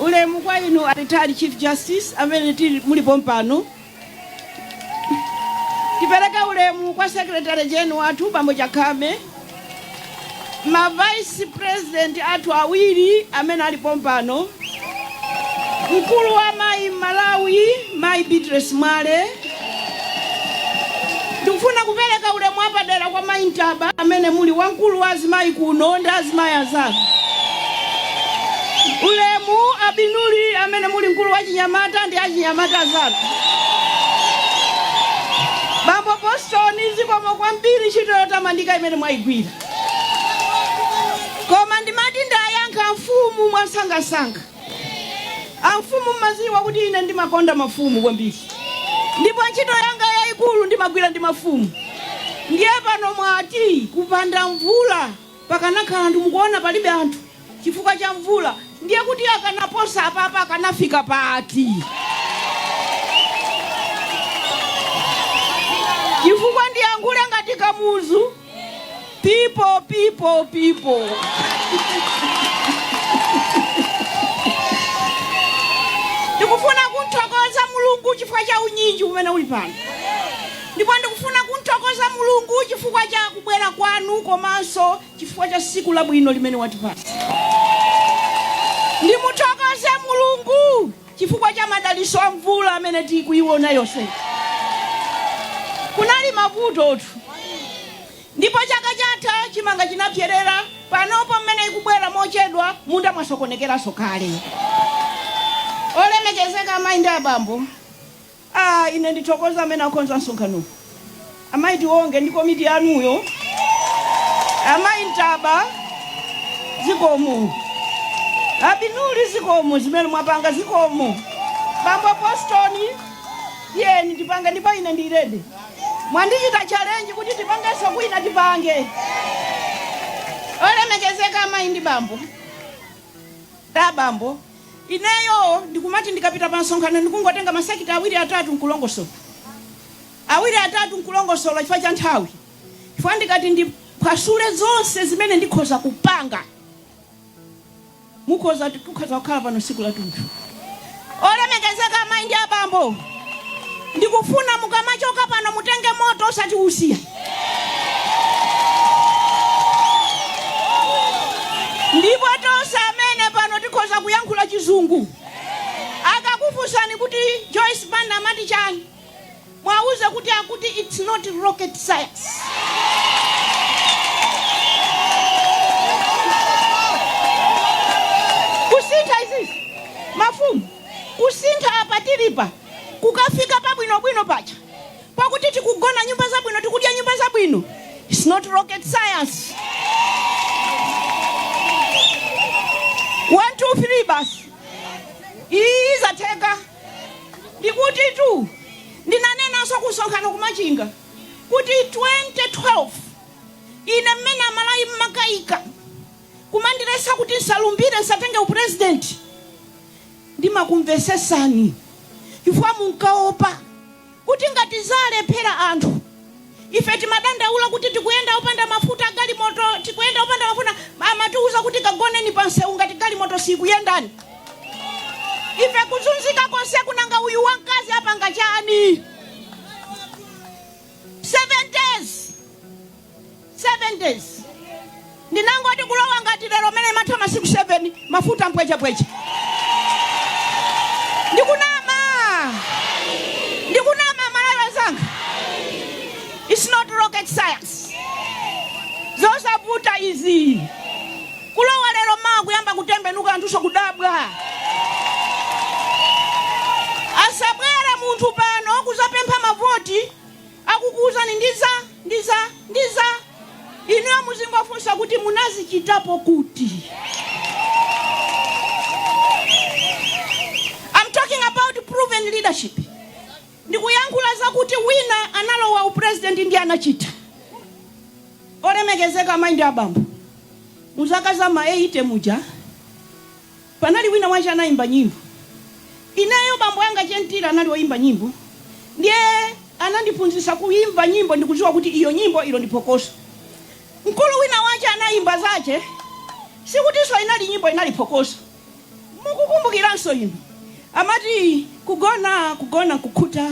ulemu kwa inu a retired chief justice amene muli pompano tipereke ulemu kwa secretary general wathu bambo chakhame ma vice president athu awiri amene ali pompano Mkulu wa amayi m'Malawi mayi Beatrice Mwale. Ndikufuna kupereka ulemu apadera kwa mayi Ntaba amene muli wamkulu wa azimayi kuno ndi azimayi anzanu. Ulemu Abinuli amene muli mkulu wa chinyamata ndi achinyamata anzanu. Bambo Boston zikomo kwambiri ntchito yotamandika imene mwayigwira. koma ndimati ndayankha amfumu mwasangasanga amfumu mmaziwa kuti ine ndimakonda mafumu kwambiri ndipo ntchito yanga yayikulu ndimagwira ndi mafumu ndiye pano mwati kupanda mvula pakanakhala mukuona palibe anthu chifukwa cha mvula ndiye kuti akanaposa apapa akanafika pati chifukwa ndiyankhule ngati kamuzu People, people, people. ndikufuna kumthokoza mulungu chifukwa cha unyinji umene uli pano ndipo ndikufuna kumthokoza mulungu chifukwa cha kubwera kwanu komanso chifukwa cha siku labwino limene watipasa ndimuthokoze mulungu Chifukwa cha madalitso a mvula amene tikuiona yonse, kunali mavutotu ndipo chaka chatha chimanga chinapyerera. Panopo mmene ikubwera mochedwa, m'munda mwasokonekeranso kale. Olemekezeka Amayi ndi Abambo, Aaa ine ndithokoza amene akonza msonkhano amayi Tiwonge ndi komiti yanuyo, amayi Ntaba zikomo, abinuli zikomo zimene mwapanga zikomo, bambo Boston tiyeni tipange ndipo ine ndi ready mwandichita challenge kuti tipangenso kwina tipange. Olemekezeka amayi ndi bambo, ndi abambo. Ineyo ndikumati ndikapita pa msonkhano ndikungotenga masekita awiri atatu n'kulongosola, awiri atatu n'kulongosola chifukwa cha nthawi, chifukwa ndikati ndiphwasule zonse zimene ndikhoza kupanga tikhoza kukhala pano tsiku lathunthu. Olemekezeka amayi ndi abambo. ndikufuna mukamachoka pano mutenge moto osati usiya ndipo tonse amene tili pano tikhoza kuyankhula chizungu akakufunsani kuti joyce banda amati chani mwauze kuti akuti its not rocket science kusintha izi mafumu kusintha apa tilipa kukafika pabwinobwino paja pakuti tikugona nyumba zabwino tikudya nyumba zabwino its not rocket science 123 basi iyi izatheka ndikuti tu ndinanenanso kusonkhano kumachinga kuti 2012 ine mmene amalawi mmakayika kumandiletsa kuti nsalumbire, nsatenge u president, ndimakumvesesani chifukwa munkaopa kuti ngati zalephera anthu ife timadandaula kuti tikuyenda opanda mafuta agalimoto, tikuyenda opanda mafuta amatiuza kuti kagoneni pa nseu ngati galimoto siikuyenda ife kuzunzika konse kunanga uyu wankazi apanga chani? 7 days ndinangoti kulowa ngati lero mmene amatha masiku 7 mafuta mpwechepweche ndikunama ndikunama malawi anzanga its not rocket science zosavuta izi kulowa lero mawa kuyamba kutembenuka anthuso kudabwa asabwere munthu pano kuzapempha mavoti akukuuzani ndiza, ndiza, ndiza, inuyo muzingofunsa kuti munazichitapo kuti? Am talking about proven leadership. Ndikuyankhula za kuti wina analowa u president ndiye anachita. Olemekezeka amayi ndi abambo, mu zaka za ma 80 muja Panali wina wache anaimba nyimbo ineyo bambo anga che Mtila anali oimba nyimbo ndiye anandiphunzisa kuimva nyimbo ndikuziwa kuti iyo nyimbo ilo ndi phokoso mkulu wina wache anaimba zache sikutiso inali nyimbo inali phokoso mukukumbukiranso inu amati Kugona, kugona nkukhuta,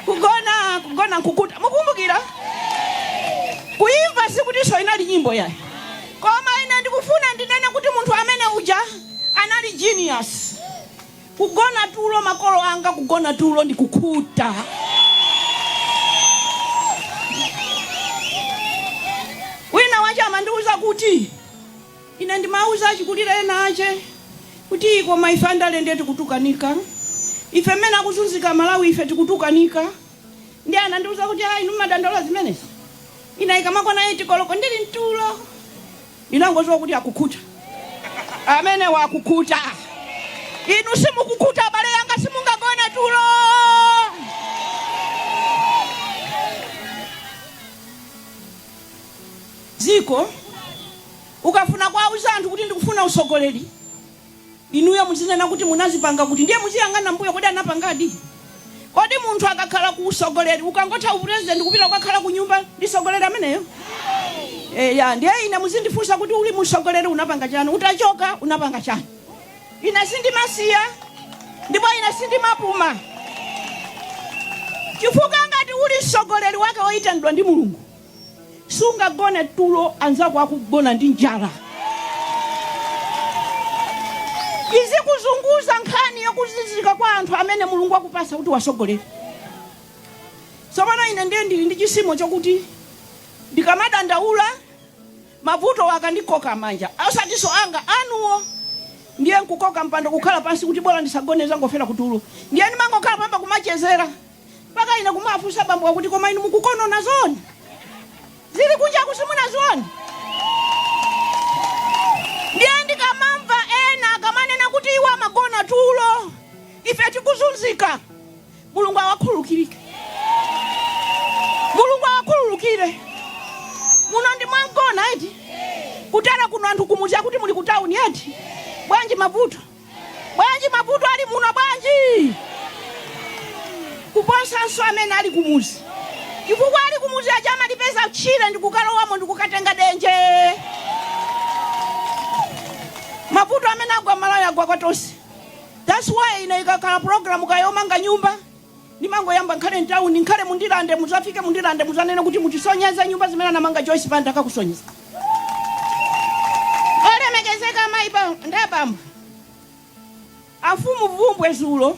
kugona, kugona nkukhuta. Mukukumbukira? Kuimba sikutinso inali nyimbo yayi. Koma ine ndikufuna ndinene kuti munthu amene uja anali genius. Kugona tulo makolo anga, kugona tulo ndi kukhuta. Wina wache amandiuza kuti Ine ndimawauza achikulire ena ache kuti koma ife andale ndiye tikutukanika ife mmene akuzunzika amalawi ife tikutukanika ndiye anandiuza kuti aa inu mmadandaula zimenezi? Ine ikamakwana 8 koloko ndili mtulo ndinangodziwa kuti akukhuta amenewa akukhuta inu simukukhuta abale anga simungagone tulo dziko. Ukafuna kuwauza anthu kuti ndikufuna utsogoleri, inuyo muzinena kuti munazipanga kuti ndiye muziyang'ana m'mbuyo kodi anapangadi? Kodi munthu akakhala ku utsogoleri ukangotha u president kupita kukakhala kunyumba ndi mtsogoleri ameneyo? Eya ndiye ine muzindifunsa kuti uli mu utsogoleri unapanga chani, utachoka unapanga chani? Ine sindimasiya ndipo ine sindimapuma chifukwa ngati uli mtsogoleri wake woyitanidwa ndi mulungu sungagone tulo anzako akugona ndi njala izikuzunguza nkhani yokuzunzika kwa anthu amene mulungu akupasa kuti uwatsogolere tsopano ine ndiye ndili ndi chisimo chokuti ndikamadandaula Mavutowa akandikoka manja, osatinso anga, anuwo. Ndiye n'kukoka mpando kukhala pansi kuti bola ndisagone n'zangofera kutulo. Ndiye ndimangokhala panopa kumachezera. Mpaka ine kumawafunsa bambowa kuti, Koma inu mukukonona zoona? Zili kunjaku simunazione? Ndiye ndikamamva ena akamanena kuti iwo amagona tulo, ife tikuzunzika. Mulungu awakhululukire. Mulungu awakhululukire. Muno ndi mwa Mgona eti? Kutera kuno anthu kumudzi akuti muli ku town eti? Bwanji mavuto? Bwanji mavuto ali muno bwanji? Kuposanso amene ali kumudzi. Chifukwa ali kumudzi aja amalipeza tchire ndi kukalowamo ndi kukatenga denje. Mavuto amene agwa m'Malawi agwa kwa tonse. Thats why ine ikakhala program kaya yomanga nyumba ndimangoyamba nkhale mtauni nkhale mu ndilande muzafike mu ndilande muzanene kuti mutisonyeze nyumba zimene anamanga Joyce Banda akakusonyezani olemekezeka amayi pa- ndi abambo amfumu vumbwe dzulo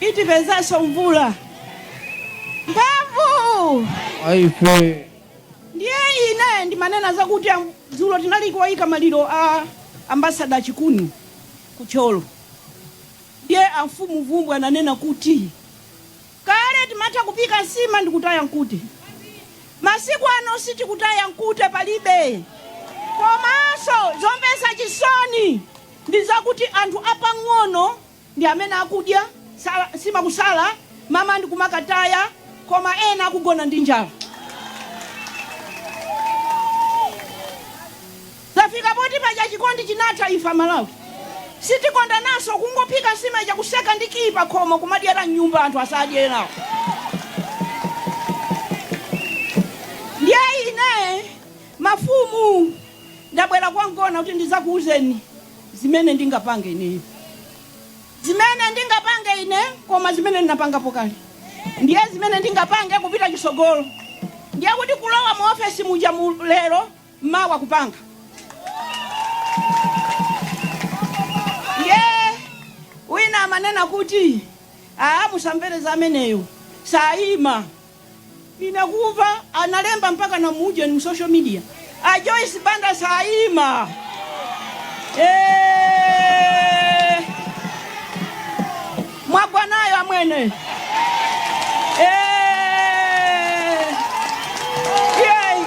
Itipezanso mvula mphamvu aife ndiye ine ndimanena zakuti am- dzulo tinali kuyika maliro a ambasada chikuni ku Thyolo ndiye amfumu vumbwe ananena kuti kale timatha kupika nsima ndi kutaya mkute masiku ano sitikutaya mkute palibe komanso zomvetsa chisoni ndi zakuti anthu apang'ono ndi amene akudya nsima kusala, mmawa ndi kumakataya koma ena akugona ndi njala. Zafika poti paja chikondi chinatha ife amalawi sitikondananso kungophika nsima ija kuseka ndi kiyi pakhomo kumadyera mnyumba anthu asadye enawo. Ndiye ine mafumu ndabwera kwa mgona kuti ndizakuuzeni zimene ndingapange ineyo, zimene ndingapange ine, koma zimene ndinapangapo kale, ndiye zimene ndingapange kupita chisogolo. Ndiye kuti kulowa mu ofesi muja mu lero mmawa kupanga ye wina amanena kuti aa musamvere za ameneyo sayima Ndinakuva analemba mpaka na muujeni mu social media a Joyce Banda saima Eh, mwagwa nayo amwene Eh, yay.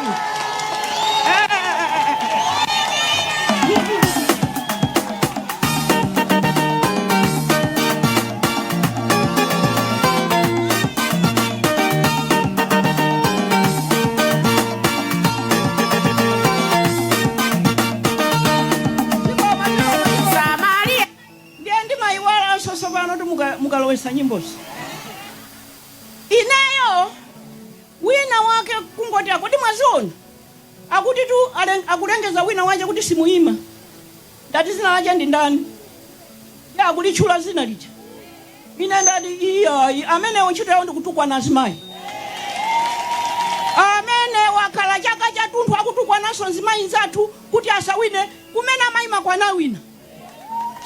Eh. ndiye ndimayiwalanso tsopano tu mukalowesa nyimbozi ineyo wina wake kungoti akuti mwaziona akuti tu akulengeza wina wache kuti simuyima Ndati zina lache ndi ndani? Akulitchula zina lija? Ine ndati iyayi, amenewo ntchito yawo ndi kutukwana azimayi. Amenewo akhala chaka chatunthu akutukwananso mzimayi nzathu kuti asawine kumene amayimako anawina.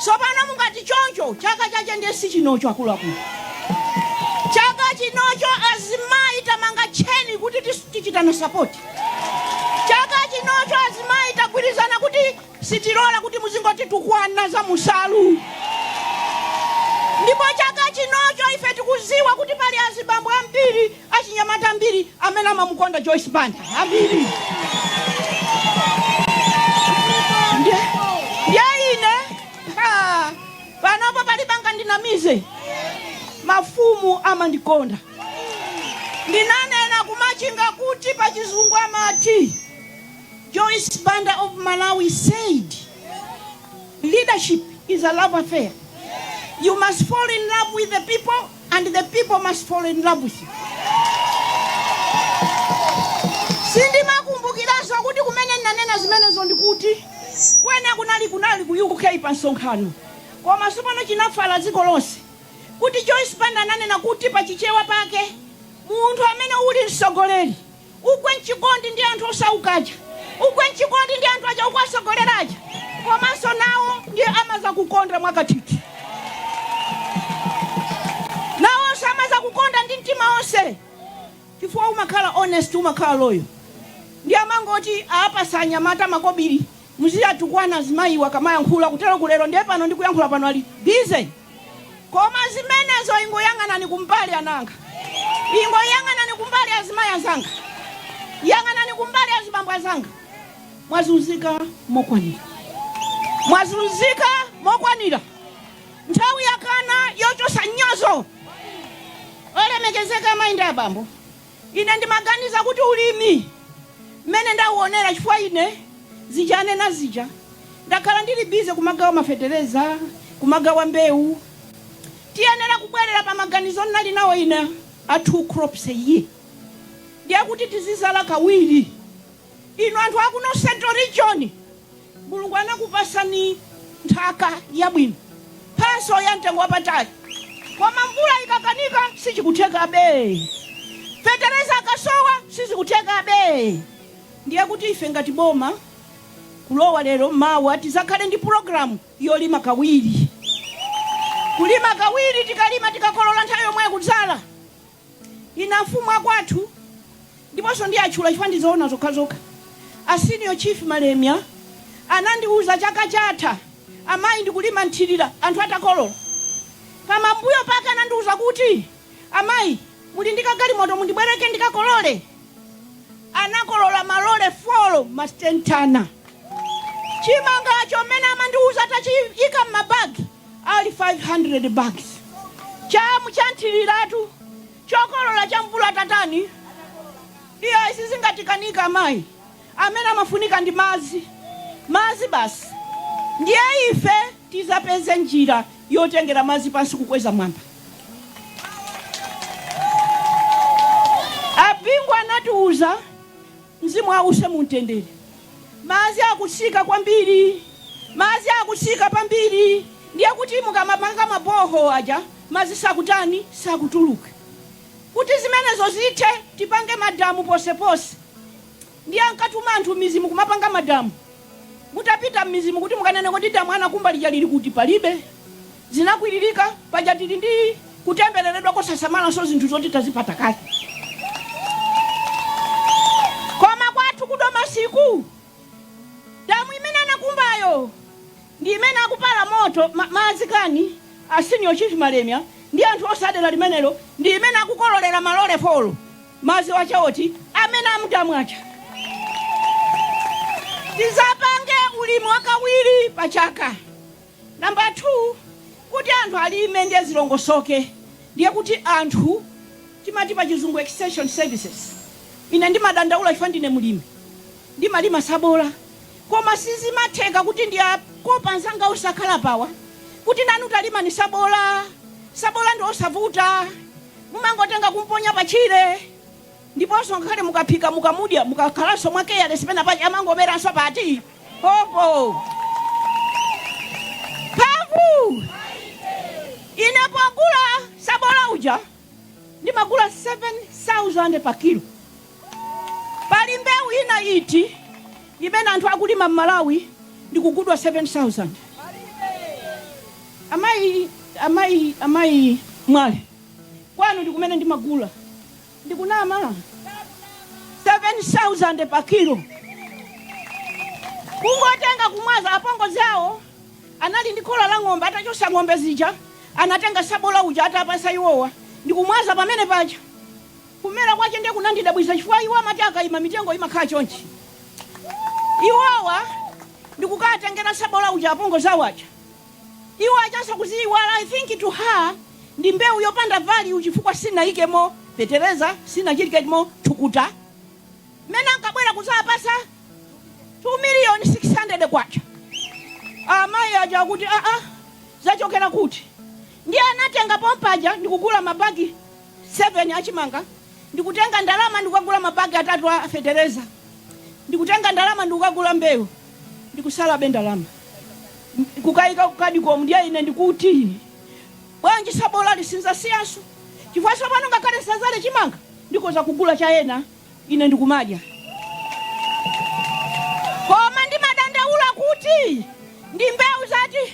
Sopano mungati choncho, chaka chache ndiye sichinocho akuluakulu. Chaka chinocho azimayi tamanga tcheni kuti tichitana sapoti. Chaka chinocho azimayi tagwirizana kuti. Sitilola kuti muzingotitukwana za musalu ndipo chaka chinocho ife tikuziwa kuti pali azibambo ambiri achinyamata ambiri amene amamukonda Joyce Banda ambiri ndye ine panopo palibe angandinamize mafumu amandikonda ndinanena kumachinga kuti pachizungu amati Joyce Banda of Malawi said, Leadership is a love affair. You must fall in love with the people and the people must fall in love with you. Sindimakumbukiranso kuti kumene ndinanena zimenezo ndikuti kwene kunali ku UK pa msonkhano koma sopano chinafala dziko lonse kuti Joyce Banda ananena kuti pa Chichewa pake munthu amene uli mtsogoleri Ugwe mchikondi ndi anthu osauka aja. Ugwe mchikondi ndi anthu aja ukuwatsogolera aja. Komanso nawo ndiye amadzakukonda kwakathithi. Nawonso amadzakukonda ndi mtima onse chifukwa umakhala honest, umakhala loyal. Ndiye amangoti aapatsa anyamata makobiri. Muziatukwana azimayiwo akamayankhula kutero kulero ndiye pano ndikuyankhula pano ali busy koma zimenezo ingoyang'anani kumbali ana anga ingoyang'anani kumbali azimayi anzanga yang'anani kumbali azibambo anzanga mwazunzika mokwanira mwazunzika mokwanira nthawi yakwana yochosa mnyozo olemekezeka amayi ndi abambo. Ine ndi maganizo akuti ulimi, mmene ndawuonera, chifukwa ine. zija anena zija, ndakhala ndiri bize kumagawa mafetereza, kumagawa mbewu. Tiyenera kubwerera pa maganizo ndinali nawo ine a two crops a year, ndiye kuti tizidzala kawiri. Inu anthu akuno central region Mulungu anakupasani nthaka yabwino, mphatso ya mtengo wapatali koma mvula ikakanika sizikuthekabe, fetereza akasowa sizikuthekabe ndiye kuti ife ngati boma kulowa lero mawa tizakhale ndi program yolima kawiri, kulima kawiri, tikalima tikakolola nthawi yomwe kudzala Ine afumu akwathu ndiponso ndiatchula chifukwa ndi zoona zokhazokha. A Senior Chief Malemia anandiuza chaka chatha amayi ndikulima mthirira anthu atakolola. Pamambuyo pake anandiuza kuti, Amayi, muli ndi kagalimoto mundibwereke ndikakolole? Anakolola malole folo masitenitani. Chimanga chomwe amandiuza atachiika m'mabagi. ali 500 bags chamu cha mthiriratu chokolola cha mvula tatani iya isizingatikanika madzi amene amafunika ndi madzi madzi basi ndiye ife tizapeze njira yotengera madzi pansi kukweza mwamba abingu anatiuza Mzimu awuse mumtendere. Madzi akutsika kwambiri, madzi akutsika kwambiri ndiye kuti mukamapanga ma borehole aja madzi sakutani, sakutuluka. Kuti zimenezo zithe tipange madamu ponseponse ndiye ankatuma anthu mmidzimu kumapanga madamu. Mutapita mmidzimu kuti mukanene kodi damu anakumba lija lili kuti? Palibe. zinakwiririka. Paja tili ndi kutembereredwa kosasamalanso zinthu zoti tazipata kale. Koma kwathu ku Domasiku, damu imene anakumbayo ndi imene akupala moto, ma, madzi kani, a Senior Chief Malemia ndi anthu onse a dera limenelo ndi imene akukololera malole folo madzi aja oti amene a mudamu aja. Tizapange ulimi wakawiri pa chaka Number 2 kuti anthu alime ndiye zilongosoke ndiye kuti anthu timati pa chizungu extension services ine ndimadandaula chifukwa ndine mlimi ndimalima sabola koma sizimatheka kuti ndiwakope anzanga onse akhala apawa kuti nanu talimani sabola sabola ndi osavuta mumangotenga kumponya pa tchire Ndiponso ngakhale mukaphika mukamudya mukakhalanso mwa careless pena pake amangomeranso pati popo phavu ine pogula sabola uja ndimagula 7000 pa kilo pali mbewu ina iti imene anthu akulima mmalawi ndikugudwa 7000 amayi amayi amayi Mwale kwanu ndikumene ndimagula Ndikunama? 7000 pa kilo kungotenga kumwaza. Apongozi awo anali ndi khola la ng'ombe, atachosa ng'ombe zija anatenga sabola uja atapasa iwowa ndikumwaza pamene paja. Kumera kwache ndiye kunandidabwisa chifukwa iwo amati akaima mitengo imakhala chonchi. Iwowa ndikukatengera sabola uja apongozi awo aja. Iwo ajaso kuziiwala I think to her ndi mbewu yopanda value chifukwa sanayikemo fetereza sanachilikemo thukuta mmene ankabwera kuzapasa K2 miliyoni600 amayi aja akuti aa zachokera kuti ndiye anatenga pompaja ndikugula ma bag 7 a chimanga ndi kutenga ndalama ndi kukagula mabagi atatu a fetereza ndi kutenga ndalama ndi kukagula mbewu ndi kusalabe ndalama ndi kukayika kukadiko ndiye ine ndikuti bwanji sabolayi sindizasiyanso chifukwa pano ngakhale ndisazale chimanga ndikoza kugula cha ena ine ndikumadya koma ndimadandaula kuti ndi mbewu zati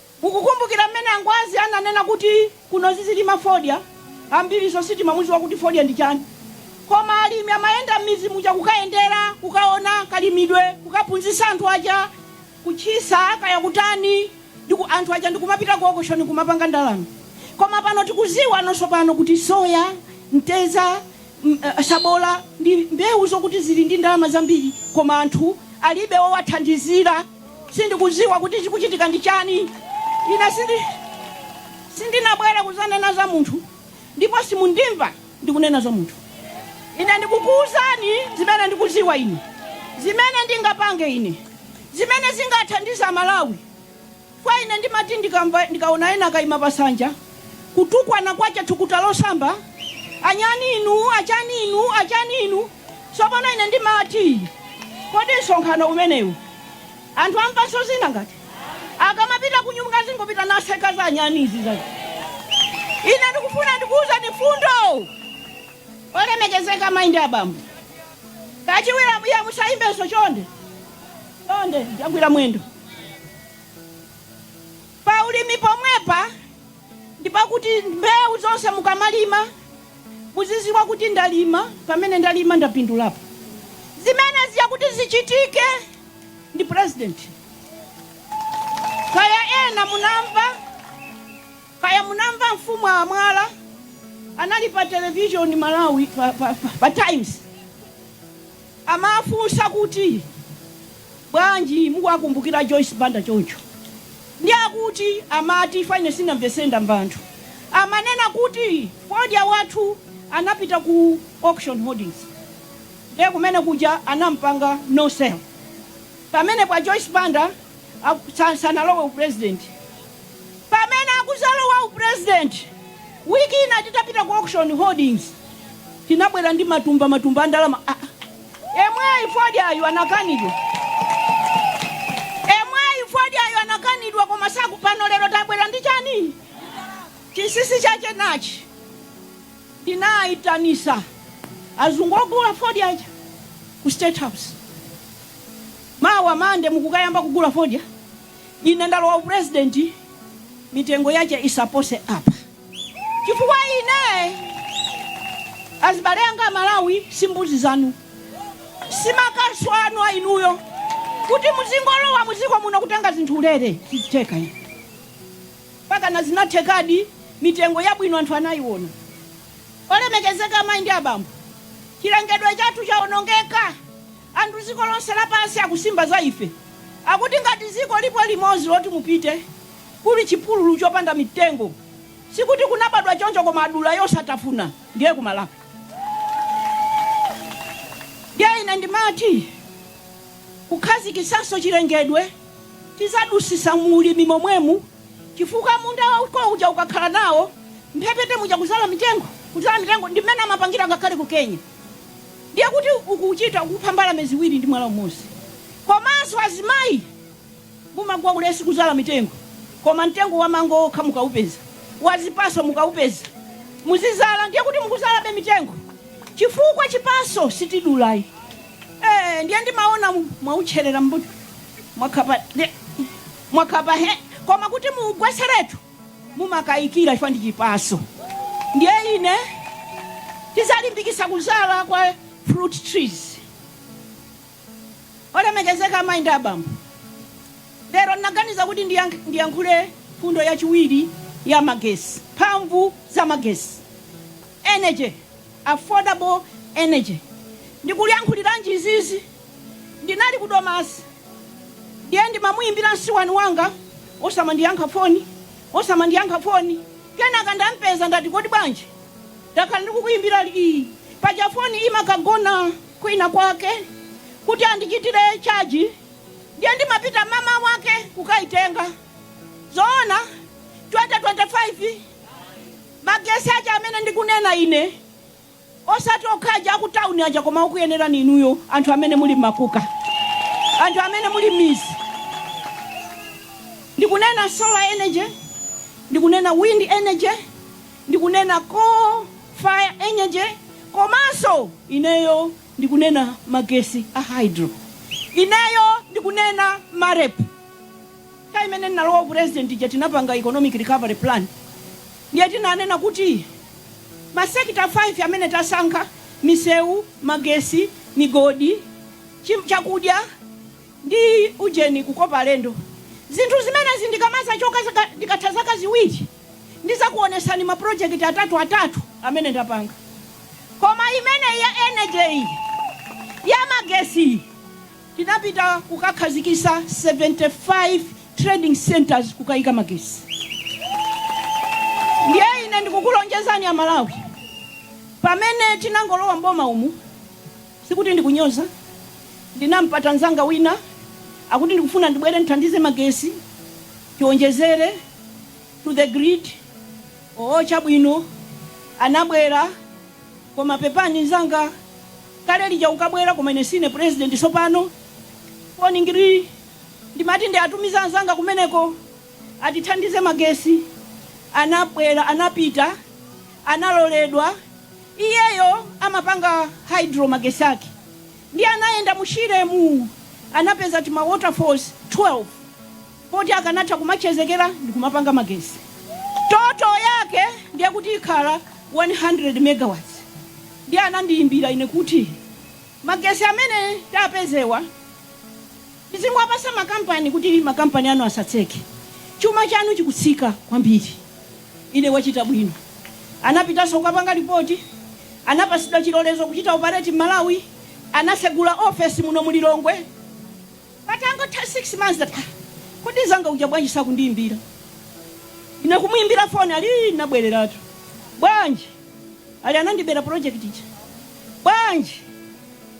Mukukumbukira mmene a Ngwazi ananena kuti kuno tizilima fodya? Ambiriso sitimamuziwa kuti fodya ndi chani. Koma alimi amayenda m'mizi muja kukayendera, kukaona kalimidwe, kukaphunzisa anthu aja kuthyola kaya kutani anthu aja ndikumapita ku auction nkumapanga ndalama. Koma pano tikuziwa nonse pano kuti soya, mteza, sabola ndi mbewu zokuti zili ndi ndalama zambiri koma anthu alibe owathandizira. Sindikuziwa kuti chikuchitika ndi chani. Ine sindi sindinabwere kuzanena za munthu ndipo simundimva ndikunena za munthu. Ine ndikukuuzani zimene ndikuziwa ine, zimene ndingapange ine, zimene zingathandize a Malawi. Fwa ine ndimati ndikamva ndikaona ena akaima pa sanja kutukwana kwacha thukuta losamba anyani inu achani inu achani inu Tsopano, ine ndimati, kodi msonkhano umenewu anthu amvanso zina ngati. akamapita kunyumba azingopita naseka za anyani izi za. Ine ndikufuna ndikuwuzani mfundo. Olemekezeka amayi ndi abambo, kachiwiri abuya musayimbenso chonde. Chonde, ndiyagwira mwendo. pa ulimi pomwepa ndi pakuti mbewu zonse mukamalima muziziwa kuti ndalima pamene ndalima ndapindulapo zimene zija kuti zichitike ndi president kaya ena munamva kaya munamva mfumu a mwala anali pa television malawi pa, pa, pa, pa times Amafunsa kuti, Bwanji mukuwakumbukira a Joyce Banda choncho? Nde akuti amati fwa ine sinamvetsere ndamva anthu amanena kuti fodya wathu anapita ku auction holdings nde kumene kuja anampanga no sale pamenepo a Joyce Banda. aku sa- sanalowe upresident pamene akuzalowa upresident wiki ina titapita ku auction holdings tinabwera ndi matumba matumba a ndalama Ah, ah. yemweyu fodyayu anakanidwa yemweyu fodyayu anakanidwa koma tsopano lero tabwera ndi chani chinsinsi chache nachi ndinayitanisa azungu ogula fodyaja ku state house Mawa Monday mukukayamba kugula fodya, ine ndalowa u president mitengo yache isapose apa chifukwa ine azibale anga amalawi si mbuzi zanu, si makasu anu a inuyo kuti muzingolowa muziko muno kutenga zinthu ulere sizitheka ine. Mpakana zinathekadi mitengo yabwino anthu anayiona. Olemekezeka amayi ndi abambo, chilengedwe chathu chaonongeka. Anthu dziko lonse lapansi akusimba za ife. Akuti ngati dziko lipo limodzi loti mupite, kuli chipululu chopanda mitengo. Sikuti kunabadwa choncho koma adula yosatafuna ndiye ku Malawi. Ndiye ine ndimati kukhazikitsanso chilengedwe tidzadusitsa mu ulimi momwemu chifukwa munda wako uja ukakhala nawo mphepete muja kudzala mitengo, kudzala mitengo ndi mmene amapangira ngakhale ku Kenya. ndiye kuti ukuchita kupha mbalame ziwiri ndi mwala umodzi. Komanso azimayi mumagwa ulesi kuzala mitengo koma mtengo wa mango okha mukaupeza, wa zipaso mukaupeza muzizala ndiye kuti mukuzalabe mitengo chifukwa chipaso sitidulayi. Eee ndiye ndimaona mwautcherera nkuti mwakhapa ndiye mwakhapa he koma kuti muugweseretu mumakayikira chifukwa ndi chipaso ndiye ine tizalimbikisa kuzala kwa fruit trees olemekezeka amayi ndi abambo lero ndinaganiza kuti ndiyank- ndiyankhule mfundo yachiwiri ya magesi mphamvu za magesi energy affordable energy ndikuyankhuliranji izizi ndinali ku domasi Ndiye ndimamuimbira msuweni wanga osamandiyankha phone osamandiyankha phone kenaka ndampeza ndati kodi bwanji ndakhala ndikukuimbira ii paja phone imakagona kwina kwake kuti andichitire charge ndiye ndimapita mmawa wake kukaitenga zoona 2025 magesi aja amene ndikunena ine Osati okha aja aku town aja koma okuyenerani inuyo anthu amene muli mmakuka. Anthu amene muli mmidzi. Ndikunena solar energy, ndikunena wind energy, ndikunena coal fired energy komanso ineyo ndikunena magesi a hydro. Ineyo ndikunena Marep. Nthawi imene ndinalowa u president ija tinapanga economic recovery plan ndiye tinanena kuti ma sector 5 amene tasankha, misewu, magesi, migodi, chi, chakudya ndi ujeni, kukopa alendo, zinthu zimenezi ndikamazachoka, ndikatha zaka ziwiri ndizakuonesani ma project atatu atatu amene ndapanga koma imeneyi ya energy iyi, ya magesi iyi, Tinapita kukakhazikisa 75 trading centres kukaika magesi ndiye ine ndikukulonjezani a Malawi pamene tinangolowa mboma umu sikuti ndikunyoza ndinampeza nzanga wina akuti ndikufuna ndibwere ndithandize magesi tionjezere to the grid oo chabwino anabwera koma pepani nzanga kale lija ukabwera koma ine sine president sopano foni ngii ndimati ndiatumize anzanga kumeneko atithandize magesi anabwera anapita analoledwa iyeyo amapanga hydro magesi ake ndiye anayenda mu shiremu anapeza tima waterfalls 12 poti akanatha kumachezekera ndikumapanga magesi total yake ndiye kuti ikhala 100 megawatts ndiye anandiyimbira ine kuti magesi amene tapezewa tizingowapasa makampani kuti makampani anu asatseke chuma chanu chikutsika kwambiri ine wachita bwino anapitaso kukapanga lipoti anapasidwa chilolezo kuchita operate m'malawi anasegula ofesi muno mulilongwe Patangotha 6 months ndati aah kodi nzanga uja bwanji sakundiimbira ine kumuimbira phone ali ii ndinabwereratu bwanji ali anandibera project ija bwanji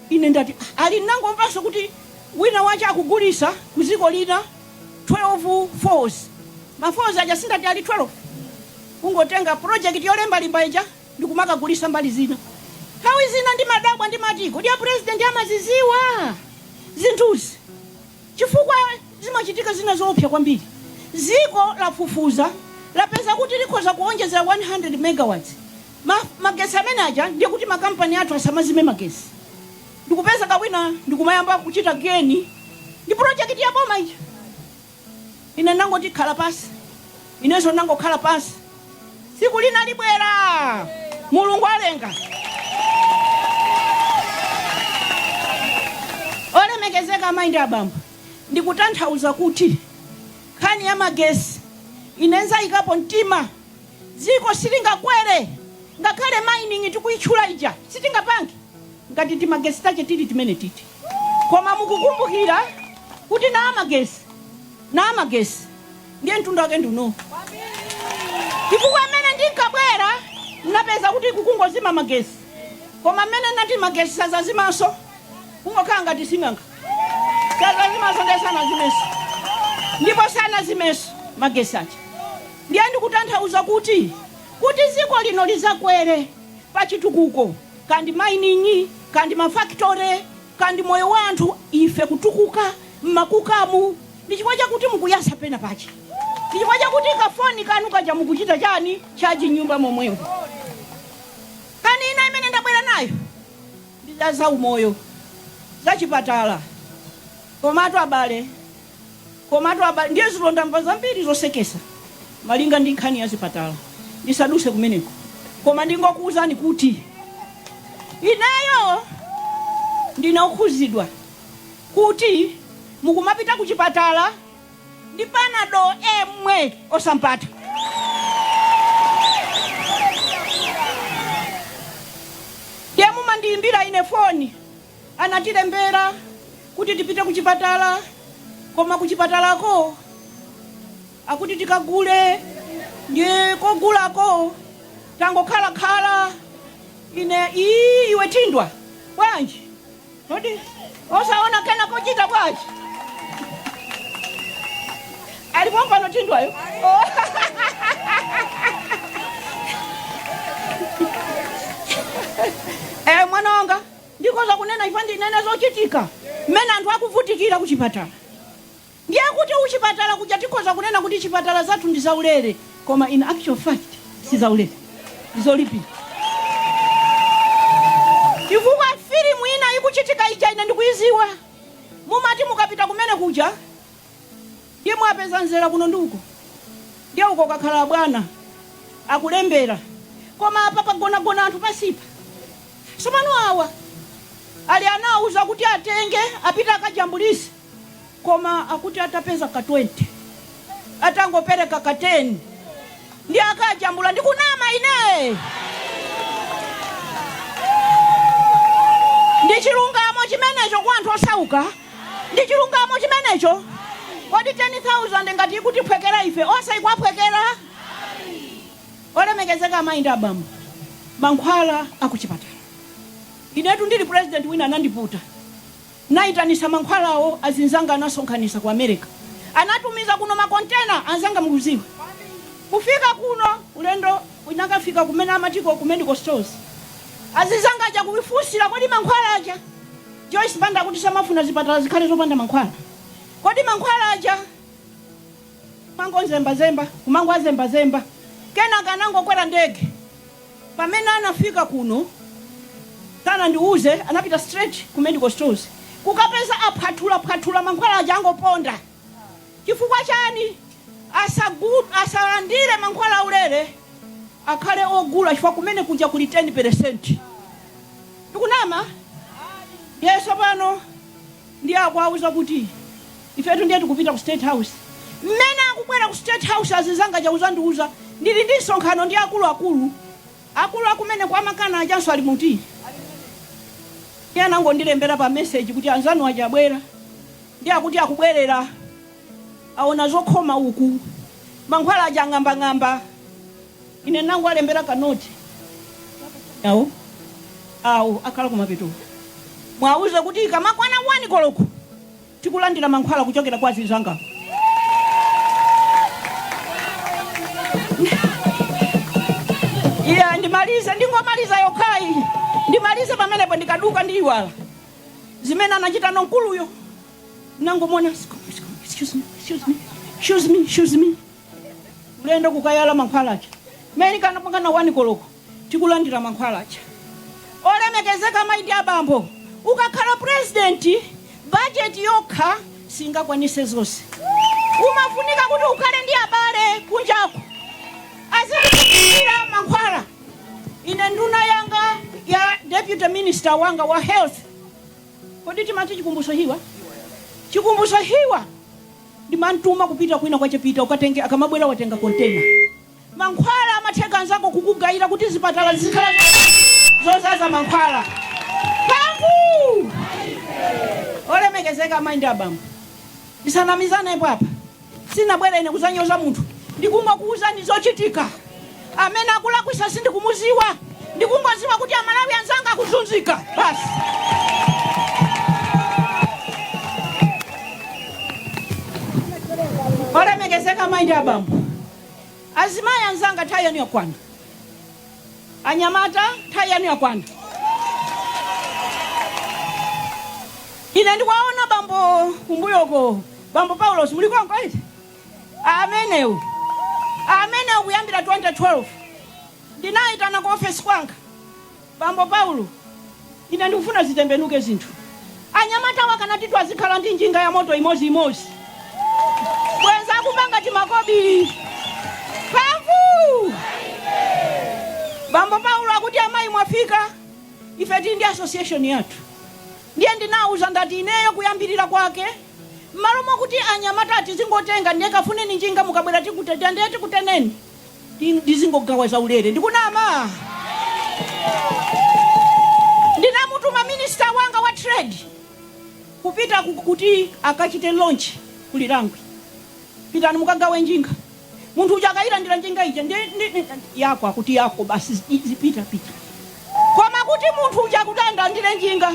ine ndati "Ah, ali ndinangomvanso kuti wina wache akugulisa ku dziko lina 12 falls ma falls aja sindati ali 12 kungotenga project yolembalemba ija ndikumakagulisa mbali zina. Nthawi zina ndimadabwa ndimati kodi a president amaziziwa zinthuzi chifukwa zimachitika zina zoopsa kwambiri. Ziko lafufuza lapeza kuti likhoza kuonjezera 100 megawatts magesi amene aja ndiye kuti makampani athu asamazime magesi ndikupeza kawina ndikumayamba kuchita geni ndi project ya boma ija. Ine ndinangoti, Khala pansi. Inenso ndinangokhala pansi. Tsiku lina libwera. Mulungu alenga. Olemekezeka amayi ndi abambo, ndikutanthauza kuti nkhani ya magesi ine nzayikapo mtima. Dziko silingakwere ngakhale mining tikuyitchula ija sitingapange ngati timagesi tache tili timenetiti. Koma mukukumbukira kuti namagesi namagesi ndiye mtundu wake ndi uno chifukwa mmene ndinkabwera ndinapeza kuti kukungozima magesi koma mmene ndinati magesi sazazimanso kungokhala ngati sing'anga sazazimanso ndiye sanazimenso ndipo sanazimenso magesi aja ndiye ndikutanthauza kuti kuti dziko lino lizakwere pa chitukuko kaya ndi mining, kaya ndi ma factory, kaya ndi moyo wa anthu, ife kutukuka mmakukamu ndi chifukwa chakuti mukuyatsa pena pache, ndi chifukwa chakuti ka foni kanu kaja mukuchita chani, charge mnyumba momwemo. Nkhani ina imene ndabwera nayo ndi za zaumoyo, za chipatala. Komatu abale, Komatu abale, ndiye dzulo ndamva zambiri zosekesa malinga ndi nkhani ya zipatala ndisaduse kumeneko koma ndingokuuzani kuti ineyo ndine okhuzidwa kuti mukumapita ku chipatala ndi panado emwe osampata ndiye mumandiyimbira ine foni Anatilembera kuti tipite kuchipatala koma kuchipatalako akuti tikagule ndiye kogulako tangokhala khala ine ii iwe Thindwa bwanji kodi osaona kana kochita bwanji ali pompano Thindwayo oh. eh mwana wanga Ndikhoza kunena ife ndinene zochitika mmene anthu akuvutikira kuchipatala. Ndiye kuti kuchipatala kuja tikhoza kunena kuti chipatala zathu ndi zaulere koma in actual fact si zaulere, ndi zolipira. Chifukwa filimu ina ikuchitika ija ine ndikuiziwa, mumati mukapita kumene kuja, Ndiye mwapeza mzera kuno ndi uko, ndiye uko kwakhala abwana akulembera, koma apa pagonagona anthu pansipa. Tsopano awa ali anawuza kuti atenge apite akajambulise, koma akuti atapeza ka 20 atangopereka ka 10 ndiye akajambula. Ndikunama ine? Ndi chilungamo chimenecho kwa anthu osauka? Ndi chilungamo chimenecho? Kodi 10,000 ngati ikutiphwekera ife onse ikuwaphwekera? Olemekezeka amayi ndi abambo, mankhwala a kuchipatala. Inetu ndili president wina anandiputa. Naitanisa mankhwalawo azinzanga anasonkhanisa ku America. Anatumiza kuno ma container anzanga mukuziwa. Kufika kuno ulendo unakafika kumene amatiko ku medical stores. Azinzanga aja kuifunsila kodi mankhwala aja? Joyce Banda akuti samafuna zipatala zikhale zopanda mankhwala. Kodi mankhwala aja amangozembazemba, kumangowazembazemba, kenaka anangokwera ndege. Pamene anafika kuno sanandiuze, anapita straight ku medical stores kukapeza aphwathulaphwathula mankhwala aja angoponda. Chifukwa chani asagud asalandile mankhwala aulere akhale ogula chifukwa kumene kuja kuli 10 percent ndikunama ndiye sopano ndiye akuwauza kuti ifetu ndiye tikupita ku state house mmene akubwera ku state house azinzanga aja kuzandiuza ndili ndi msonkhano ndi akulu akulu akulu akumene kwa mankhwala ajanso ali muti iye anangondilembera pa message kuti anzanu aja abwera Ndi akuti akubwerera, aona zokhoma uku, mankhwala aja ng'ambang'amba. Ine nangowalembera ka note kakuti awo awo akhala kumapetoko, muwauze kuti ikamakwana 1 koloko tikulandira mankhwala kuchokera kwa azinzanga. Iya, ndimalize, ndingomaliza yokhayi, ndimalize pamenepo, ndikaduka ndiyiwala. zimene anachita mkuluyo nangomona excuse me, excuse me, excuse me, excuse me. ulendo kukayala mankhwala aja mmene inkakwana wani koloko tikulandira mankhwala aja olemekezeka amayi ndi abambo ukakhala purezidenti bajeti yokha singakwanise zonse umafunika kuti ukhale ndi abale kunjako azikupatsira mankhwala Ine nduna yanga ya deputy minister wanga wa health kodi timati Chikumbutso Hiwa Chikumbutso Hiwa ndimamtuma kupita kwina kwachepita ukatenge akamabwera watenga kontena mankhwala amatheka anzako kukugayira kuti zipatala zizikhala zozaza mankhwala mphamvu olemekezeka amayi ndi abambo tisanamizanepo apa Sinabwere ine kuzanyoza munthu ndikungokuuzani zochitika amene akulakwisa sindikumuziwa ndikungoziwa kuti amalawi anzanga akuzunzika basi. Olemekezeka mayi ndi abambo azimayi anzanga nthawi yanu yakwana Anyamata, nthawi yanu yakwana. Ine ndikuwaona bambo kumbuyo uko, bambo Paulos, muli konko eti? Amenewo, amenewo kuyambira 2012 ndinawayitana ku ofesi kwanga, bambo Paulo Ine ndikufuna zitembenuke zinthu. Anyamatawa akanati azikhala ndi njinga yamoto imodzi imodzi, bwenzi akupanga timakobili. Mphamvu! Bambo Paulo akuti, Amayi mwafika, ife tili ndi association yathu. Ndiye ndinawauza ndati ineyo poyambirira kwake, m'malo mokuti anyamata tizingotenga, ndiye kafuneni njinga mukabwera tikutereni. ndizingogawa zaulere ndikunama? Ndinamutuma minister wanga wa trade kupita kuti akachite launch ku Lirangwe. Pitani mukagawe njinga. Munthu uja akayilandira njinga ija ndi yako akuti yako basi zipita pita. Koma kuti munthu uja kuti adzalandire njinga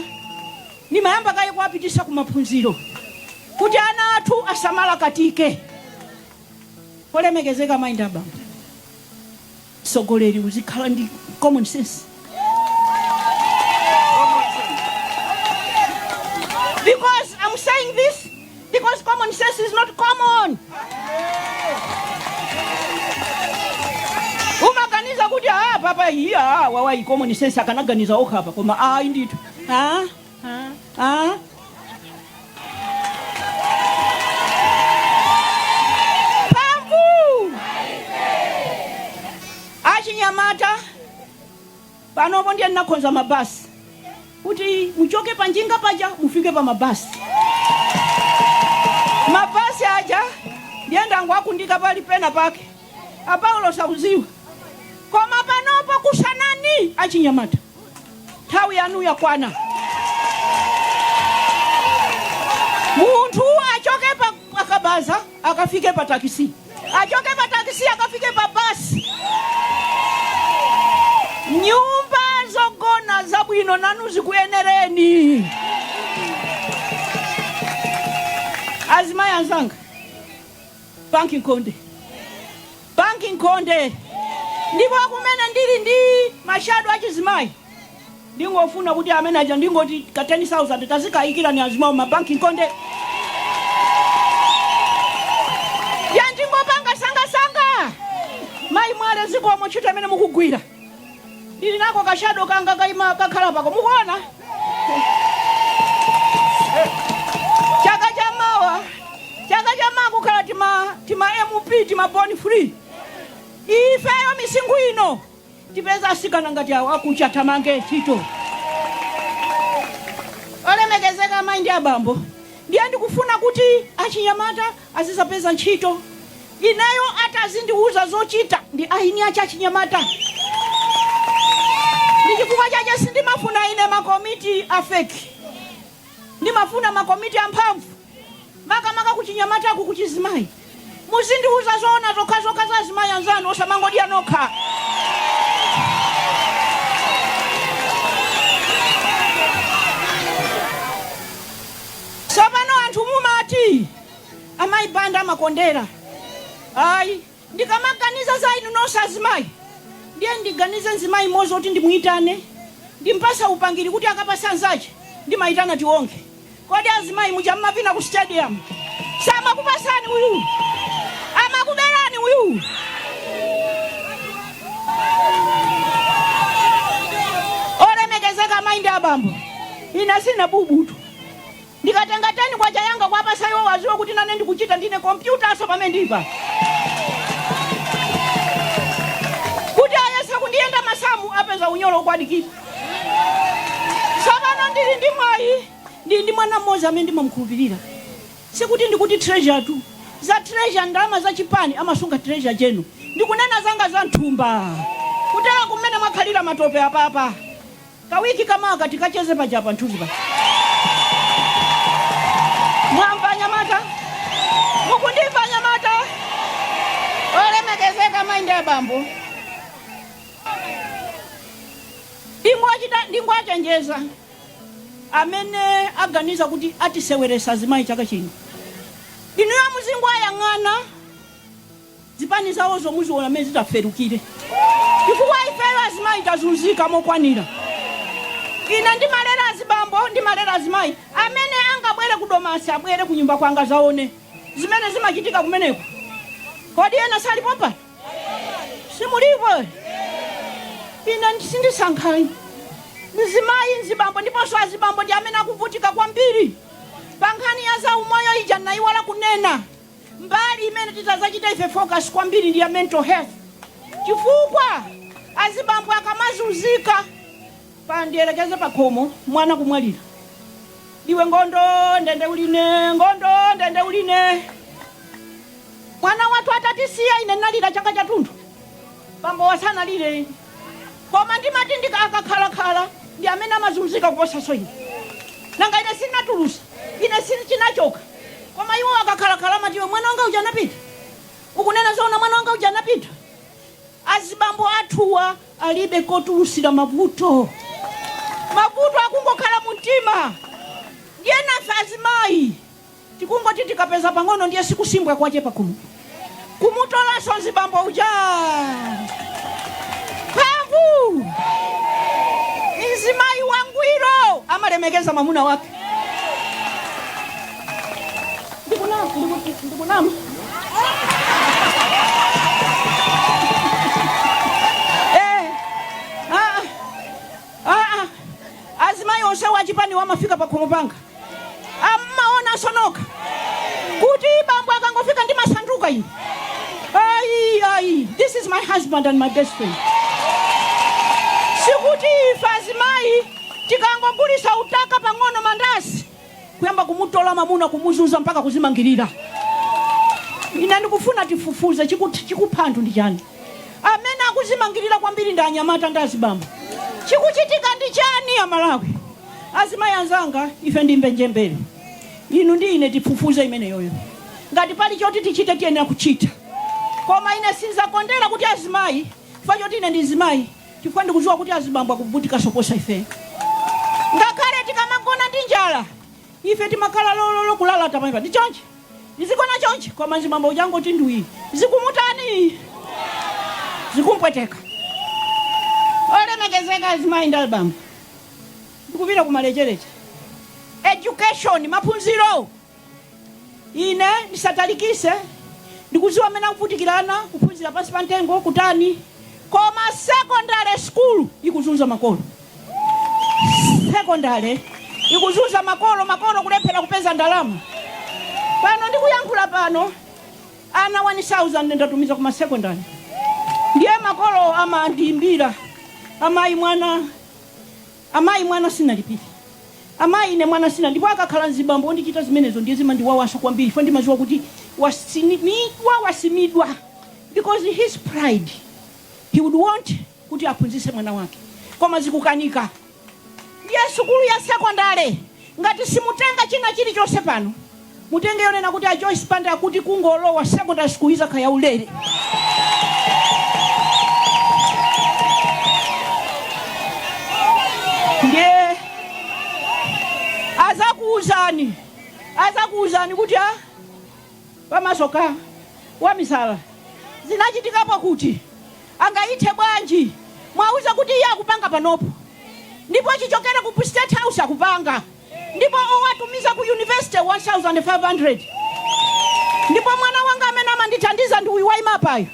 ndimayamba kaye kuwapitisa ku maphunziro kuti ana athu asamarakatike. Olemekezeka amayi ndi abambo, mtsogoleri uzikhala ndi common sense because I'm saying this because common sense is not common. umaganiza kuti ah papa iwowa common sense akanaganiza okha apa koma ayi ndithu Ah? Pambu! achinyamata panopo ndiye ndinakonza mabasi kuti muchoke pa njinga paja mufike pa mabasi mabasi aja ndiye ndangu akunditha pali pena pake apaulo sauziwa koma panopo kusanani achinyamata nthawi yanu yakwana munthu achoke pa pakabaza akafike pa takisi achoke pa takisi akafike pa basi nyumba zogona zabwino nanu zikuyenereni azimayi anzanga banki nkhonde Banki nkhonde ndipo kumene ndili ndi ma shadow achizimayi ndingofuna kuti amene aja ndingoti ka 10,000 tazikayikirani azimayi ma banki nkhonde ya ndingopanga sangasanga mayi mwale zikomo ntchito imene mukugwira Ndili nako ka shadow kanga kaima kakhala pako. Mukuona? Chaka cha mawa. Chaka cha mawa kukhala tima MP tima born free. Ifeyo misinkhu ino tipeza asikana ngati awo akucha tamange ntchito. olemekezeka amayi ndi abambo ndiye ndikufuna kuti achinyamata azizapeza ntchito Ineyo atazindiuza zochita ndi eni ache achinyamata ndichifukwa chache sindimafuna ine ma komiti a fake ndimafuna ma komiti amphamvu makamaka kuchinyamataku kuchizimayi muzindiuza zoona zokhazokha za azimayi anzanu osamangodya nokha tsopano anthu mumati Amayi Banda amakondera ayi ndikamaganiza za inu nonse azimayi ndiye ndiganize mzimayi mmodzi woti ndimuyitane ndimpase upangiri kuti akapase anzache ndimayitana Tiwonge kodi azimayi muja mumapita ku stadium samakupasani uyu amakuberani uyu olemekezeka amayi ndi abambo ine sine bubutu Ndikatenga 10 kwacha yanga kwapasa iwo aziwe kuti nane ndikuchita ndine computer so pamene ndilipa kuti ayese kundiyenda masamu apeza unyolo ukwadikira tsopano ndili ndi mwayi ndili ndi mwana mmodzi amene ndimamkhulupirira sikuti ndikuti treasure tu za treasure ndalama za chipani amasunga treasure chenu ndikunena zanga za mthumba kutera kumene mwakhalira matope apapa Kawiki kamawa tikacheze paja pa nthunzi pa mwamva anyamata mukundimva anyamata olemekezeka mayi ndi abambo ndingowachenjeza amene aganiza kuti atiseweresa azimayi chaka chino inuyo muzingowayang'ana zipani zawozo muziona mmene zitaferukire chifukwa ifeyo azimayi tazunzika mokwanira ine ndimalera azibambo ndimalera azimayi amene angabwere ku domasi abwere ku nyumba kwanga azaone zimene zimachitika kumeneko kodi ena salipo pa simulipo ine sindisankha ayi mzimayi mzibambo ndiponso azibambo ndi amene akuvutika kwambiri pa nkhani ya zaumoyo ija nayiwala kunena Mbali imene titazachite ife focus kwambiri ndi ya mental health chifukwa azibambo akamazunzika pandiyerekeze pakhomo mwana kumwalira iwe ngondo ndende uline ngondo ndende uline mwana wathu atatisiya ine ndinalira chaka chathunthu bambo wasanalire koma ndimati ndikakhalakhala ndi amene amazunzika kuposaso ine nanga ine sinatulusa ine si chinachoka koma iwo akakhalakhala amati iwe mwana wanga uja anapita ukunena zoona mwana wanga uja anapita azibambo athuwa alibe kotulusira mavuto mavuto akungokhala mu mtima ndiye nafe azimayi Tikungoti tikapeza pang'ono ndiye sikusimbwa kwake pakuno. Kumutolanso mzibambo uja. Mphamvu. Mzimayi wangwiro amalemekeza mwamuna wake. Ndikunama, ndiku- ndikunama. Eh, ah, ah, ah. Azimayi onse achipani amafika pakhomo panga. mmaonanso nokha kuti bambo akangofika ndimasanduka ine ayi ayi this is my husband and my best friend sikuti ife azimayi tikangogulisa utaka pang'ono mandasi kuyamba kumutola mamuna kumuzunza mpaka kuzimangirira ine ndikufuna tifufuze chikut- chikupha anthu ndi chani amene akuzimangirira kwambiri ndi anyamata ndi azibambo chikuchitika ndi chani amalawi Azimayi anzanga, ife ndi mbenjembele. Inu ndi ine tifufuze imeneyoyo. Ngati pali choti tichite, tiyenera kuchita. Koma ine sindzakondera kuti azimayi chifukwa choti ine ndi mzimayi, chifukwa ndikudziwa kuti azibambo akuvutikanso kuposa ifeyo. Ngakhale tikamagona ndi njala, ife timakhala lololo kulalata pamenepa. Ndi chonchi. Tizigona chonchi, koma mzibambo uja angoti ndwii. Zikumutani? Zikumpweteka. Olemekezeka azimayi ndi abambo. ndikupita kumalecheleche education maphunziro ine ndisatalikise ndikuziwa mmene akuvutikira ana kuphunzira pansi pa ntengo kutani koma secondary school ikuzunza makolo secondary ikuzunza makolo makolo kulephela kupeza ndalama pano ndikuyankhula pano ana 1000 ndatumiza kuma secondary ndiye makolo amandiyimbira amayi mwana Amayi, mwana sinalipire. Amayi, ine mwana sina. Ndipo akakhala mzibambo ondichita zimenezo ndiye zimandiwawanso kwambiri chifukwa ndimaziwa kuti wasimidwa, wasimidwa because his pride he would want kuti aphunzitse mwana wake koma zikukanika. Ndiye sukulu ya sekondale. Ngati simutenga china chilichonse pano, mutenge yonena kuti a Joyce Banda akuti kungolowa secondary school izakhala ya ulere. Ndiye azakuuzani azakuuzani kuti a pamasoka wamisala zinachitikapo kuti angayithe bwanji muwauze kuti iye akupanga panopo ndipo chichokere ku state house akupanga ndipo owatumiza ku university 1500 ndipo mwana wanga amene amandithandiza ndi uyu wayima apayo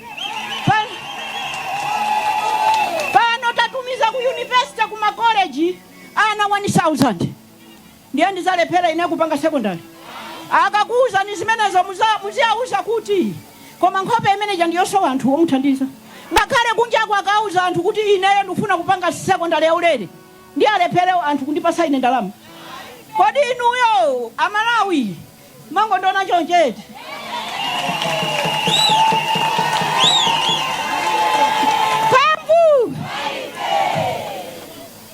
Pa- pano tatumiza ku university ku makoleji ana 1000 ndiye ndizalephera ine kupanga secondary akakuuzani zimenezo muza- muziauza kuti koma nkhope imene ija ndiyosowa anthu omuthandiza ngakhale kunjako akauza anthu kuti ineyo ndikufuna kupanga secondary yaulere ndiye alephere anthu kundipasa ine ndalama kodi inuyo amalawi Mwangondiona choncho eti? Mphamvu!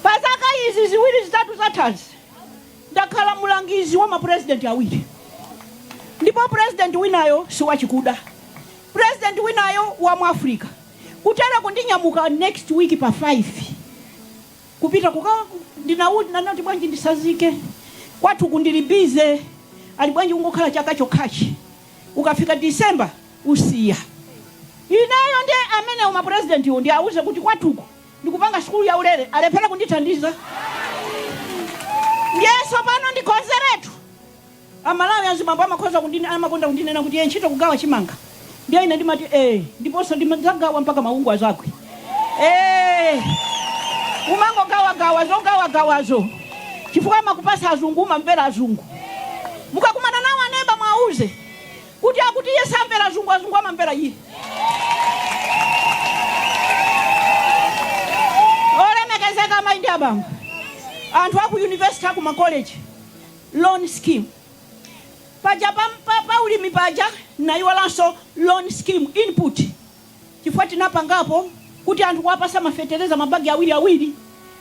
Pa zaka izi ziwiri zitatu zathazi ndakhala mlangizi wa mapurezidenti awiri ndipo purezidenti winayo si wachikuda purezidenti winayo wa mu africa kuteroku ndinyamuka next week pa 5 kupita kuka ndinaudi nanati bwanji ndisazike kwathu ku ndili busy ali bwanji ungokhala chaka chokhachi ukafika December usiya ineyo nde amenewo ma president wo ndiauze kuti kwathuku ndikupanga sukulu ya ulere alephera kundithandiza ndiye sopano ndikonzeretu A Malawi azibambo amakhoza amakonda kundinena kuti ee ntchito kugawa chimanga ndiye ine ndimati ee ndiponso ndimadzagawa mpaka mawungu azakwe ee umangogawagawa zogawagawazo chifukwa amakupasa azungu umamvera azungu mukakumana nawo aneba mwauze kuti akuti iye samvera azungu azungu amamvera iye olemekezeka amayi ndi abambo anthu aku yunivesiti aku makoleji loan scheme paja pa pa pa ulimi paja naiwalanso loan scheme input chifukwa tinapangapo kuti anthu kuwapasa mafetereza mabagi awiri awiri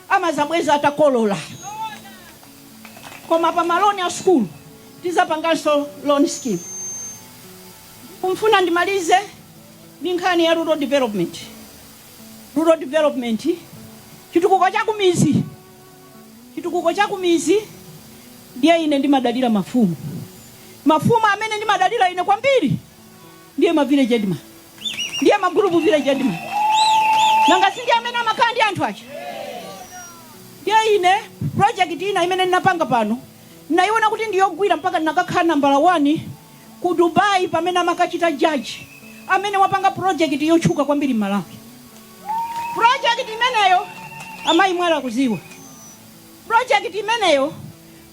amazabweza atakolola koma pa maloni a sukulu tizapanganso loan scheme nkufuna ndimalize ndi nkhani ya rural development rural development chitukuko cha kumizi chitukuko cha kumizi ndiye ine ndimadalira mafumu mafumu amene ndimadalira ine kwambiri ndiye ma village headman ndiye ma group village headman nanga si ndiye amene amakhala ndi anthu aja ndiye ine project ina imene ndinapanga pano ndinayiona kuti ndiyogwira mpaka ndinakakhala nambala 1 ku dubai pamene amakachita jaji amene wapanga project yotchuka kwambiri m'malawi Project imeneyo amayi mwale akuziwa project imeneyo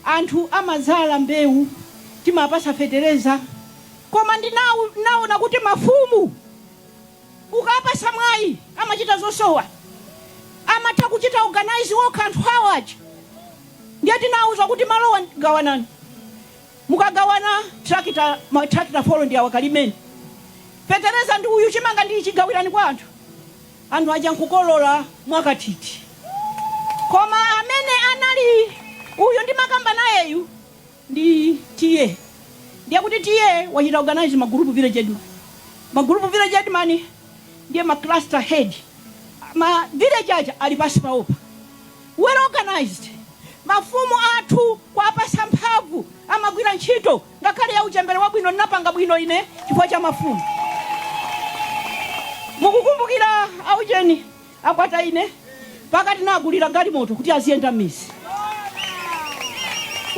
anthu amazala mbewu timapasa fetereza koma ndinau- ndinaona kuti mafumu ukapasa mwayi amachita zoopsa amatha kuchita organize wokha anthu awo aja ndiye tinauza kuti malowa gawanani Mukagawana tractor ma tractor four ndi awa kalimeni fetereza ndi uyu chimanga ndi ichi gawirani kwa anthu. Anthu aja nkukolora mwakathithi koma amene anali uyu ndimakamba nayeyu ndi TA ndiye kuti TA wachita organise ma group village headman ma group village headman ndiye ma cluster head ma village aja ali pansi pawopa. well organized mafumu athu kuwapasa mphamvu amagwira ntchito ngakhale ya uchembere wabwino ndinapanga bwino ine chifukwa cha mafumu mukukumbukira aujeni akwata ine mpaka tinagulira galimoto kuti aziyenda m'mizi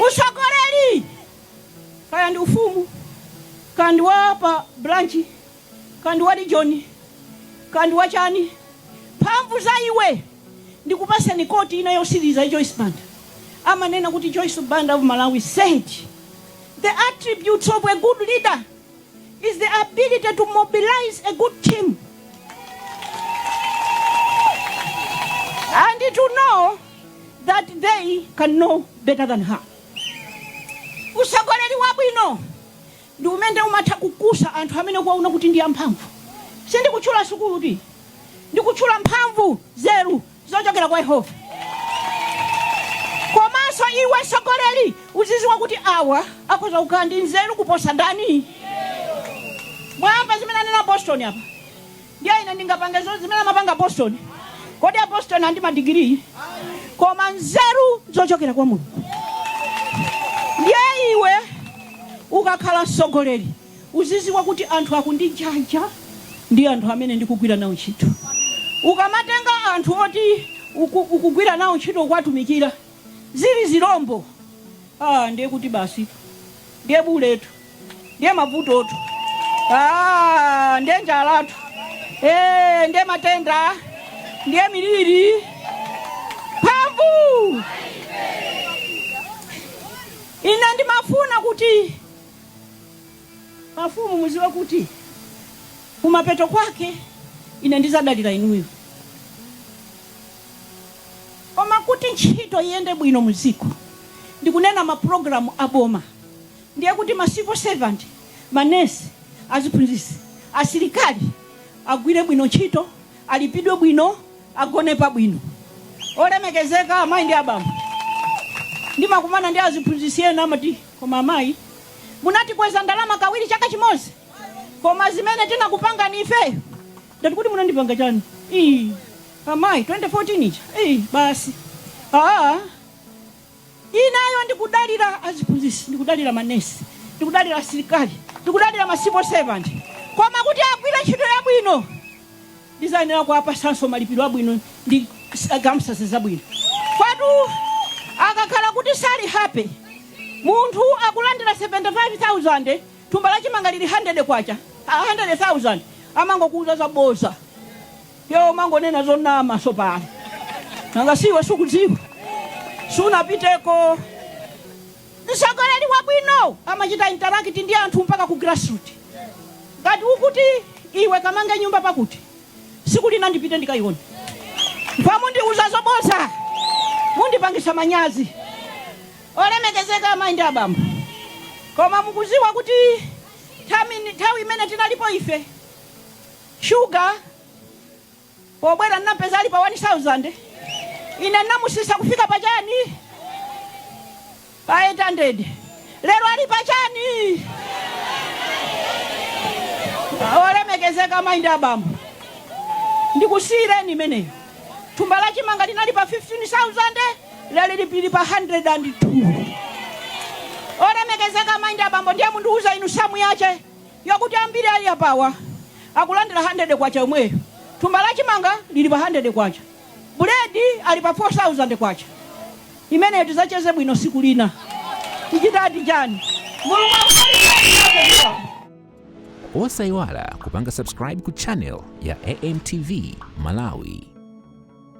usogoleri kaya ndi ufumu kaya ndi wa pa branchi Kaya ndi wa region, kaya ndi wachani, mphamvu za iwe ndikupatseni koti ina yotsiriza ya Joyce Banda. Amanena kuti Joyce Banda of Malawi said, The attributes of a good leader is the ability to mobilize a good team and to know that they can know better than her. Utsogoleri wabwino ndi umene umatha kukusa anthu amene ukuwaona kuti ndi amphamvu. Sindikutchula sukulutu. Ndikutchula mphamvu, nzeru zochokera kwa Yehova. Komanso iwe mtsogoleri uzidziwa kuti awa akhoza kukhala ndi nzeru kuposa ndani? Mwamva zimene anena Apostoli apa? Ndiye ine ndingapange zonse zimene amapanga Apostoli. Kodi Apostoli ali ndi madigiri? Koma nzeru zochokera kwa Mulungu. Ndiye iwe ukakhala mtsogoleri uzidziwa kuti anthu aku Ndirande ndi anthu amene ndikugwira nawo ntchito. Ukamatenga anthu oti uku, ukugwira nawo ntchito kuwatumikira zili zirombo, ah, ndiye kuti basi ndiye vutotu. ndiye mavutotu Ah, ndiye njalatu Eh, ndiye matenda ndiye miliri mphamvu ine ndimafuna kuti mafumu mudziwe kuti kumapeto kwake ine ndidzadalira inuyo koma kuti ntchito iyende bwino mudziko ndikunena mapulogalamu a boma Ndiye kuti ma civil servant, manesi, aziphunzitsi, asilikali agwire bwino ntchito, alipidwe bwino, agone pabwino. Olemekezeka amayi ndi abambo, ndimakumana ndi aziphunzitsi ena amati koma amayi munatikweza ndalama kawiri chaka chimodzi koma zimene tinakupangani ifeyo ndati kuti munandipanga chani ii amayi 2014 ija ii basi aa Ineyo ndikudalira aziphunzitsi, ndikudalira manesi, ndikudalira asilikali, ndikudalira ma civil servant. Koma kuti agwire ntchito yabwino ndidzayenera kuwapatsanso malipiro abwino ndi circumstances zabwino. Kwatu akakhala kuti sali happy, munthu akulandira 75,000 thumba la chimanga lili 100 kwacha, 100,000, amangokuuza zabodza. Iwe umangonena zonama tsopano. Nanga si iwe sukudziwa? Sunapiteko. Mtsogoleri wabwino amachita interact ndi anthu mpaka ku grassroot. Ngati ukuti iwe kamange nyumba pakuti, tsiku lina ndipite ndikayione. Mpamene mundiuza zobodza, mundipangisa manyazi. Olemekezeka amayi ndi abambo. Koma mukuziwa kuti nthawi imene tinalipo ife shuga pobwera ndinampeza ali pa 1000 ine ndinamusisa kufika pa chani pa 800 lero ali pa chani olemekezeka amayi ndi abambo ndikusiyireni imeneyo thumba la chimanga linali pa 15000 lero lili pa 102 olemekezeka amayi ndi abambo ndiye mundiuza inu samu yache yakuti ambiri ali apawa akulandira K100 yomweyo, thumba la chimanga lili pa K100, buledi ali pa K4000, imeneyo tizacheze bwino tsiku lina, tichitadi chani? Mulungu akudalitseni nafe zikomo. Osaiwala kupanga subscribe ku channel ya AMTV Malawi.